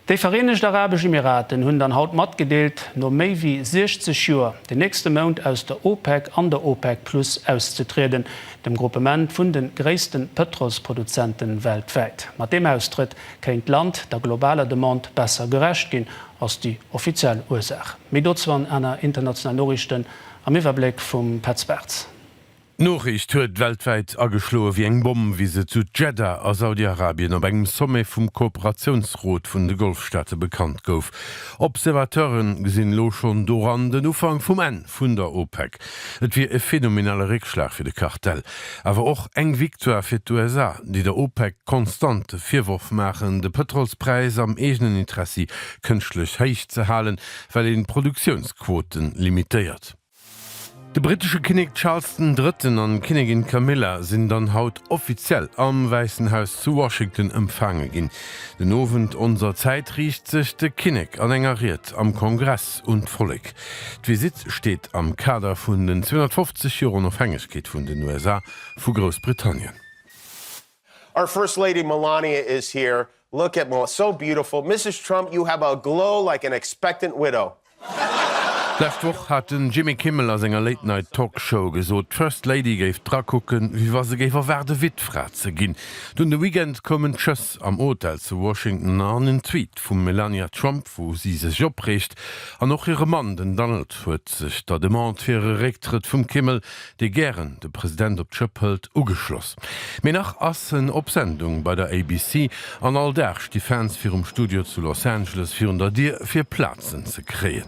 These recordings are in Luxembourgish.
Déi Vereenegt Arabesch Emiraten hunn dann haut matgedeelt, no méi wéi 60 Joer den nächste Mount aus der OPEC an der OPEC Plus auszetrieden, dem Gruppement vun de gréisste Pëtrolsproduzente weltwäit. Mat deem Austrëtt kéint d'Land der globaler Demande besser gerecht ginn, ass déi offiziell Ursaach. Méi dozou an aner internationalen Noriichten am Iwwerbléck vum Petz Bartz. D'Noriicht huet weltwäit ageschloe wéi eng Bomm, wéi se zu Jeddah a Saudi-Arabien op engem Sommet vum Kooperatiounsrot vun de Golfstaate bekannt gouf. Observateure gesinn elo schonn doran den Ufank vum Enn vun der OPEC. Et wier e phenomenale Réckschlag fir de Kartell, awer och eng Victoire fir d'USA, déi der OPEC konstant de Virworf maachen, de Pëtrolspräis am eegenen Interessi kënschtlech héich ze halen, well een d'Produktiounsquoten limitéiert. De brittesche Kinnek Charles den Drëtten an d'Kinnegin Camilla sinn dann haut offiziell am Wäissen Haus zu Washington empfaange ginn. Den Owend onser Zäit riicht sech de Kinnek an enger Ried am Kongress un d'Vollek. D'Visitt steet am Kader vun den 250 Joer Onofhängegkeet vun den USA vu Groussbritannien. Our first lady Melania is here, look at Mel, so beautiful, Mrs Trump you have a glow like an expectant widow. D'lescht Woch hat den Jimmy Kimmel a senger Late Night Talk Show gesot, d'First Lady géif dra kucken, wéi wa se géif erwaarde Wittfra ze ginn. Dunn de Weekend koumen d'Schëss am Hotel zu Washington an en Tweet vum Melania Trump, wou si sech opreegt. An och hire Mann, den Donald, huet sech der Demande fir e Récktrëtt vum Kimmel dee gären de President op d'Schëpp hëlt, ugeschloss. Mee nach ass en op Sendung bei der ABC an all Dag sti Fans virum Studio zu Los Angeles virun der Dier, fir Plazen ze kréien.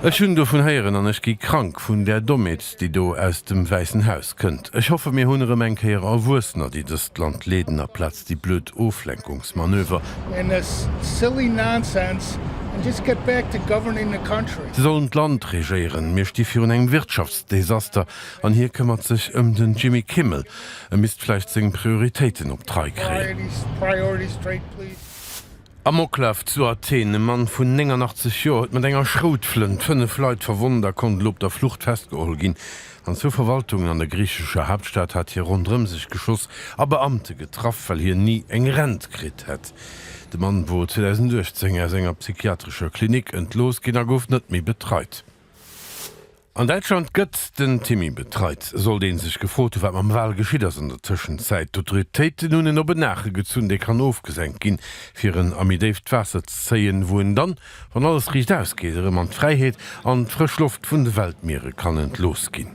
Ech hunn dovun héieren an ech gi krank vun där Dommheet. déi do aus dem Wäissen Haus kënnt. Ech hoffe mir hunn erëm eng Kéier Erwuessener, déi dëst Land leeden, aplaz déi blöd Oflenkungsmanöver. Si sollen d'Land regéieren, mir sti virun engem Wirtschaftsdesaster an hie këmmert sech ëm den Jimmy Kimmel. E misst vläicht seng Prioritéiten op d'Rei kréien. Amoklaf zu Athen, E Mann vun 89 Joer huet mat enger Schroutflënt fënnef Leit verwonnt a konnt elo op der Flucht festgeholl ginn. An zwou Verwaltungen an der griichescher Haaptstad hat hie ronderëm sech geschoss a Beamte getraff, well hien ni eng Rent kritt hätt. De Mann wor 2018 aus enger psychiatrescher Klinik entlooss ginn a gouf net méi betreit. An Däitschland gëtt den Timmy betreit. Sollt ee sech gefrot hunn, wat mam Wal geschitt ass an der Tëschenzäit, d'Autoritéiten hunn en op en Naache gezunn, dee kann ofgesenkt ginn, fir en a méi déift Waasser ze zéien, wou en dann, wann alles riicht ausgeet, erëm an d'Fräiheet an d'frësch Loft vun de Weltmiere kann entlooss ginn.